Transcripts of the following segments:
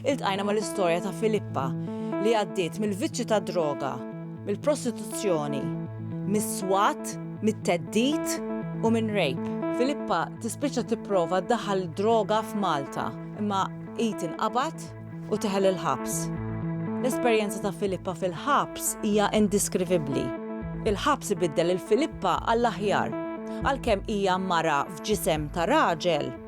Iltqajna mal-istorja ta' Filippa li għaddiet mill-vizzju tad-droga, mill-prostituzzjoni, mis-swat, mit-theddid u minn rape. Filippa tispiċċa tipprova ddaħħal id-droga f'Malta imma hi tinqabad u teħel il-ħabs. L-esperjenza ta' Filippa fil-ħabs hija indiskrivibbli. Il-ħabs ibiddel lil Filippa għall-aħjar. Għalkemm hija mara f'ġisem ta' raġel,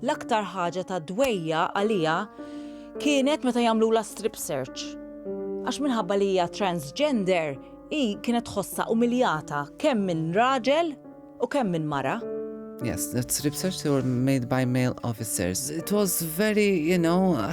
L-aktar ħaġa ta' dwejjaq għaliha kienet meta jagħmlulha strip search. Għax minħabba li hija transgender, hi kienet tħossha umiljata kemm minn raġel u kemm minn mara. Yes, the strip search they were made by male officers. It was very, you know,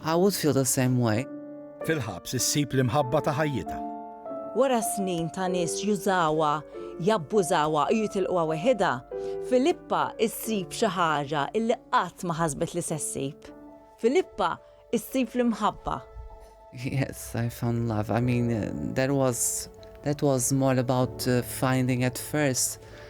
I would feel the same way. Fil-ħabs issib l-imħabba ta' ħajjitha. Wara snin ta' nies jużawha, jabbużawha u jitilquha weħidha, Filippa ssib xi ħaġa illi qatt ma ħasbet li se ssib. Filippa ssib l-imħabba. Yes, I found love. I mean, that was that was more about finding at first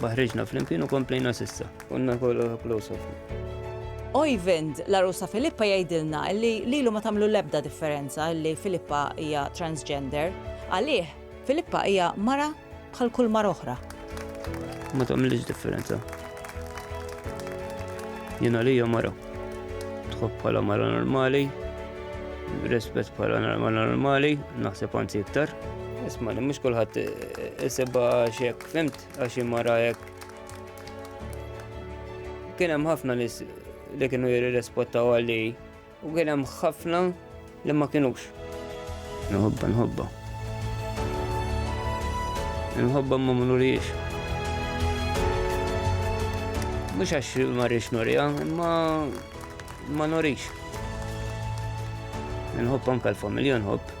Ma ħriġna flimkien u komplejna s'issa. Konna kollha close ħafna. Oyvind, l-għarusa Filippa jgħidilna li lilu ma tagħmlu l-ebda differenza li Filippa hija transgender. Għalih, Filippa hija mara bħal kull mara oħra. Ma tagħmilx differenza. Jien għalija mara. Tħobb bħala mara normali, rispett bħala mara normali, naħseb anzi iktar. Isma' li mhux kulħadd isibha xek. Fhimt għax hi mara hekk. Kien hemm ħafna nies li kienu jirrispottaw għalli u kien hemm ħafna li ma kienux. Nħobba, nħobba. Nħobba ma munuriex. Mux għax ma rix nurija, ma ma nurix. Nħobba anka l-familja nħobb.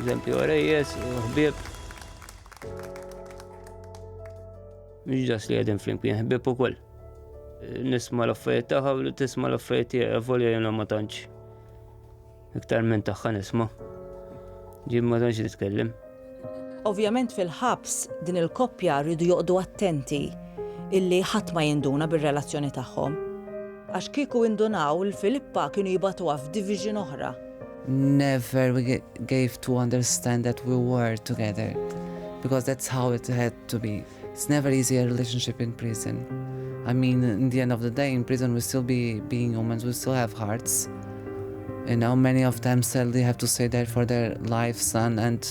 Eżempju, rejjes, ħbib. Mhux ġas li għedin flimkien, ħbib ukoll. Nisma l-affarijiet tagħha u tisma l-affarijiet tiegħi, volja jena ma tantx. Iktar minn tagħha nisma. Ġim ma tantx nitkellem. Ovvjament fil-ħabs din il-koppja riedu joqgħdu attenti illi ħadd ma jinduna bir-relazzjoni tagħhom. Għax kieku indunaw il Filippa kienu jibgħatuha f'division oħra. Never we gave to understand that we were together because that's how it had to be. It's never easy a relationship in prison. I mean, in the end of the day, in prison we still be being humans, we still have hearts. You know, many of them sadly have to stay there for their life, son, and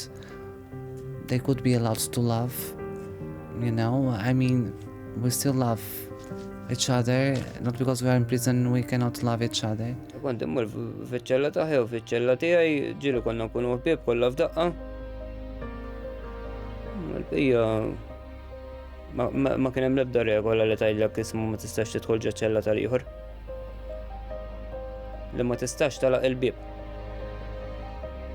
they could be allowed to love. You know, I mean, we still love each other, not because we are in prison we cannot love each other. Kont immur fiċ-ċella taħi u fiċ-ċella tiegħi ġieli konna nkunu ħbieb kollha f'daqqa. Ija, ma kien hemm l-ebda regola li tgħidlek ismu ma tistax tidħol ġeċella tal-ieħor. Li ma tistax talaq il-bib.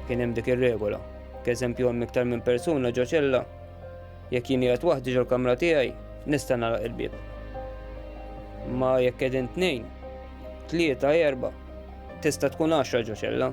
Kien hemm dik ir-regola. K'eżempju hemm iktar minn persuna ġoċella, jekk jien qiegħed waħdi ġol-kamra tiegħi, nista' nagħlaq il-bib. Ma jekk qegħdin tnejn, tlieta, erba, tista' tkun għaxra ġoċella.